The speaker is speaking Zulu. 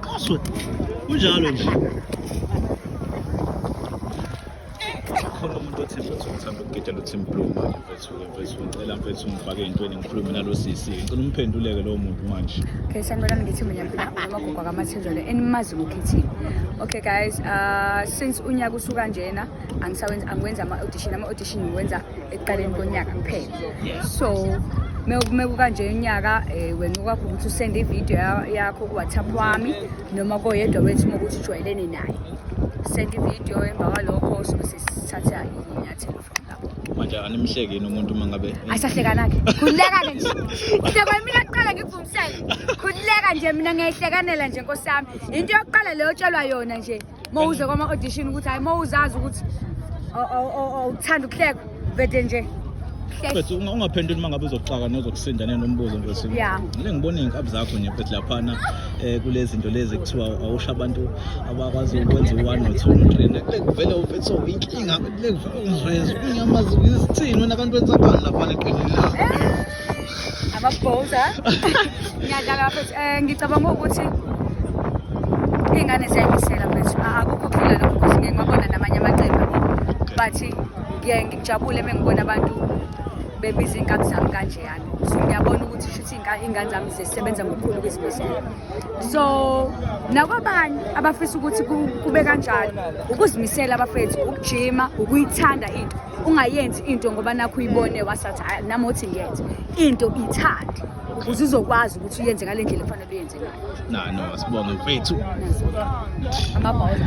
Kaso. Kunjalo nje. khona umuntu othi mfethu ngithanda ukugida lo team blue manje mfethu mfethu ngicela mfethu ngifake entweni ngikhulume nalo sisi ngicela umphenduleke lowo muntu manje Okay, sanibona ngithi mina amagogo akamathenjolo enimazi ngokhethini. Okay guys, uh, since unyaka usuka njena angisawenza angiwenza ama-audition ama-audition ngiwenza ekuqaleni konyaka kuphela so mekukanje unyaka um eh, wenca kwakho ukuthi usende ividiyo yakho kuwhatsapp wami noma koyedwa wethu uma ukuthi ujwayelene naye senda ividiyo emva kwalokho sobe sesithatha inyathelo from lapho manje animhleki yini umuntu uma ngabe ayisahlekana-ke khululeka-ke nje udaba mina kuqala ngikuvumisele khululeka nje mina ngiyayihlekanela nje nkosami yinto yokuqala leyo otshelwa yona nje uma uze kwama-audition ukuthi hhayi uma uzazi ukuthi awuthanda ukuhleka vede nje mfethu ungaphenduli uma ngabe uzoxaka nozokusinda nenombuzo mfethu yeah. le ngibona iy'nkabi zakho nje mfethu laphana um kule zinto lezi kuthiwa awusho abantu abakwazi ukwenza u-one no-two no-three lekuvele mfethu so inkinga lekuvele ungiveze unyamazi izithini wena abantu benzakani laphana eqinini lakho amabhoza ngiyadlala bafethu um ngicabanga ukuthi iy'ngane ziyayimisela mfethu akukho phila lokho ukuthi ngeke ngibabona namanye amaqembu but ngiye ngijabule uma ngibona abantu bebiza iy'nkabi zami kanjeyana so ngiyabona ukuthi shuthi iy'ngane zami zisebenza ngokukhulu ukuzibizela so nakwabanye abafisa ukuthi kube kanjalo ukuzimisela abafethu ukujima ukuyithanda into ungayenzi into ngoba nakho uyibone wasathi "Ah, nami othi ngiyenze into ithande ukuze izokwazi ukuthi uyenze ngale ndlela efanele uyenze ngayo no no sibonge mfethu amabhawuza